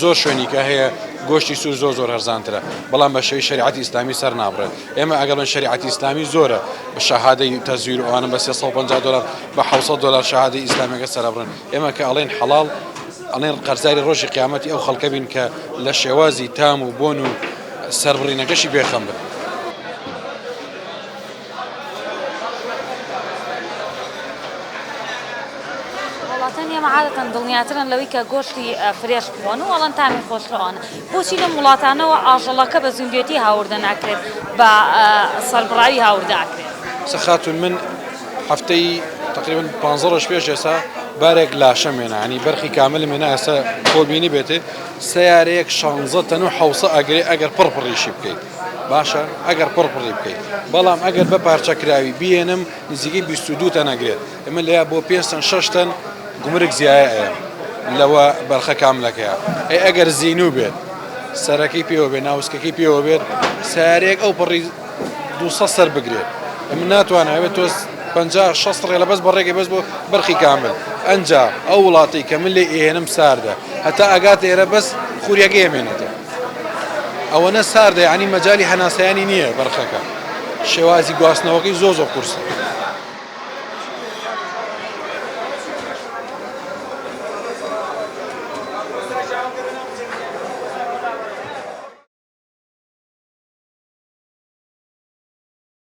زۆر شوێنیکە هەیە گۆشتی سور زۆر زۆر هەرزانترە بەڵام بە شێوەی شەریعەتی ئیسلامی سەر نابڕێت ئێمە ئەگەر من شەریعەتی ئیسلامی زۆرە بە شەهادەی تەزویر و ئەوانە بە 350 دلار بە 600 دلار شەهادەی ئیسلامەکە سەرەبڕن ئێمە کە ئەڵێن حەڵاڵ ئەڵێن قەرزاری ڕۆژی قیامەتی ئەو خەڵکە بین کە لە شێوازی تام و بۆن و سەربڕینەکەشی بێخەم بن. وڵاتانی ئێمە عادەتەن دڵنیاترن لەوەی کە گۆشتی فرێش بخۆن و ئەڵەن تامی خۆشەوەن بۆچی لەم وڵاتانەوە ئاژەڵەکە بە زیندوێتی هاوردە ناکرێت بە سەربڕاوی هاوردەکرێت سەخاتون من هەفتەی تقریبن پ ڕۆژ پێش ئێسا بارێک لاشە مێنە ئەنی بەرخی کاملی مێنە ئێستا کۆبینی بێتێ سیارەیەک شانزە تەن و حوسە ئەگرێ ئەگەر پڕپڕیشی بکەیت باشە ئەگەر پڕ پڕی بکەیت بەڵام ئەگەر بە پارچە کراوی بیێنم نزیکەی 22 تەن ئەگرێت ئەمە لەیا بۆ پێ تەن شش تەن گومرگ زیایە ئەیە لەوە بەرخە کاملەکەیە ئەی ئەگەر زین و بێت سەرەکەی پێوە بێ ناوسکەکەی پێوە بێت سارێک ئەو پڕی دو سەر بگرێت ئەم ناتوانێت تۆ 50 16 ڕێ لە بەس بەڕێگەی بەس بۆ بەرخی کامل ئەجا ئەو وڵاتی کە من لێ ئێنم ساردە هەتا ئەگات ئێرە بەس خوریەکە ئێمێنێتەوە ئەوەنە ساردە یەعنی مەجالی هەناسەیانی نییە بەرخەکە شێوازی گواستنەوەکەی زۆ زۆ قورسە.